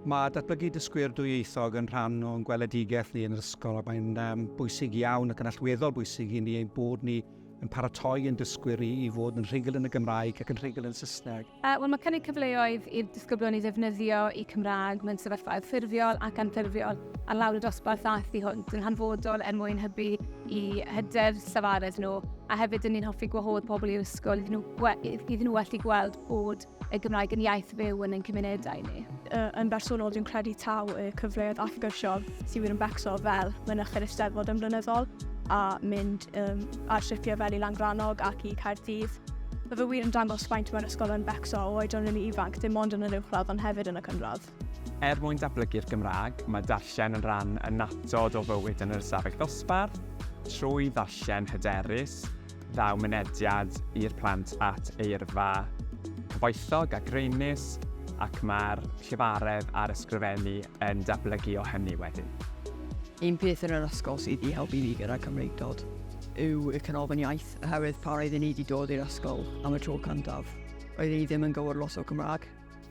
Mae datblygu dysgwyr dwyieithog yn rhan o'n gweledigaeth ni yn yr ysgol ac mae'n um, bwysig iawn ac yn allweddol bwysig i ni ein bod ni yn paratoi yn dysgwyr i, i fod yn rhugl yn y Gymraeg ac yn rhugl yn Saesneg. Uh, Wel, mae cynnig cyfleoedd i'r disgyblion i ddefnyddio y Cymraeg mewn sefyllfaoedd ffurfiol ac anffurfiol ar lawr y dosbarth a thu hwnt yn hanfodol er mwyn hybu i hyder safaredd nhw a hefyd yn ni'n hoffi gwahodd pobl i'r ysgol iddyn nhw, iddyn nhw allu gweld bod y Gymraeg yn iaith fyw yn ein cymunedau ni. Yn bersonol, dwi'n credu taw y cyfleoedd allgyrsiol sydd wir yn becso fel mynychu'r Eisteddfod yn flynyddol a mynd um, ar sipiau fel i Langrannog ac i Caerdydd. Mae fy wir yn dangos faint mae'r ysgol yn becso o oedran rili ifanc, dim ond yn yr uwchradd ond hefyd yn y cynradd. Er mwyn datblygu'r Gymraeg, mae darllen yn rhan annatod o fywyd yn yr ystafell ddosbarth. Trwy ddarllen hyderus, daw mynediad i'r plant at eirfa cyfoethog a graenus, ac mae'r llefaredd a'r ysgrifennu yn datblygu o hynny wedyn. Un peth yn yr ysgol sydd wedi helpu fi gyda Cymreictod yw y Canolfan Iaith, oherwydd pan roeddwn i wedi dod i'r ysgol am y tro cyntaf, roeddwn i ddim yn gwybod lot o Gymraeg.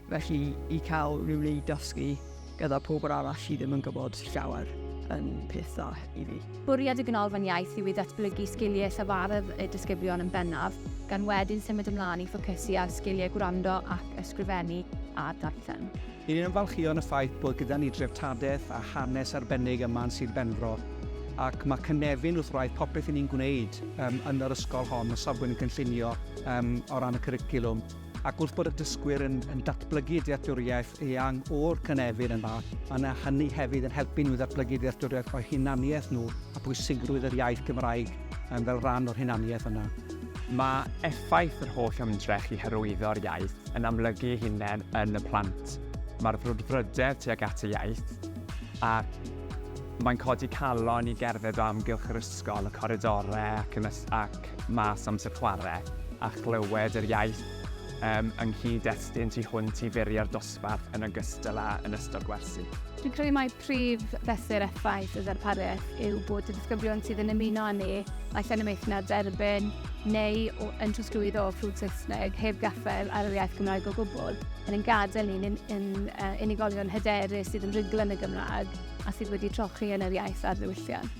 Felly, i cael rhyw le i dysgu gyda pobl arall sydd ddim yn gwybod llawer yn peth dda i fi. Bwriad y Ganolfan Iaith yw i ddatblygu sgiliau llafarydd y disgyblion yn bennaf, gan wedyn symud ymlaen i ffocysu ar sgiliau gwrando ac ysgrifennu a darllen. Ni'n ymfalchïo yn y ffaith bod gyda ni dreftadaeth a hanes arbennig yma yn Sir Benfro, ac mae cynefin wrth wraidd popeth 'yn ni'n gwneud yn yr ysgol hon o safbwynt y cynllunio o ran y cwricwlwm. Ac wrth bod y dysgwyr yn yn datblygu dealltwriaeth eang o'r cynefin yma, mae 'na hynny hefyd yn helpu nhw i ddatblygu dealltwriaeth o'u hunaniaeth nhw a phwysigrwydd yr iaith Gymraeg yym fel rhan o'r hunaniaeth yna. Mae effaith yr holl ymdrech i hyrwyddo'r iaith yn amlygu ei hunain yn y plant. Mae'r frwdfrydedd tuag at y iaith, a mae'n codi calon i gerdded o amgylch yr ysgol, y coridorau ac yn y ac mas amser chwarae a chlywed yr iaith yym yng nghyd-destun tu hwnt i furiau'r dosbarth yn ogystal â yn ystod gwersi. Dwi'n credu mai prif fesur effaith y ddarpariaeth yw bod y disgyblion sydd yn ymuno â ni naill yn y maethu na'r derbyn neu o, yn trosglwyddo o ffrwd Saesneg heb gaffael ar yr iaith Gymraeg o gwbl yn ein gadael ni'n yn, yn uh, unigolion hyderus sydd yn rhugl yn y Gymraeg a sydd wedi trochi yn yr iaith ar ddiwylliant.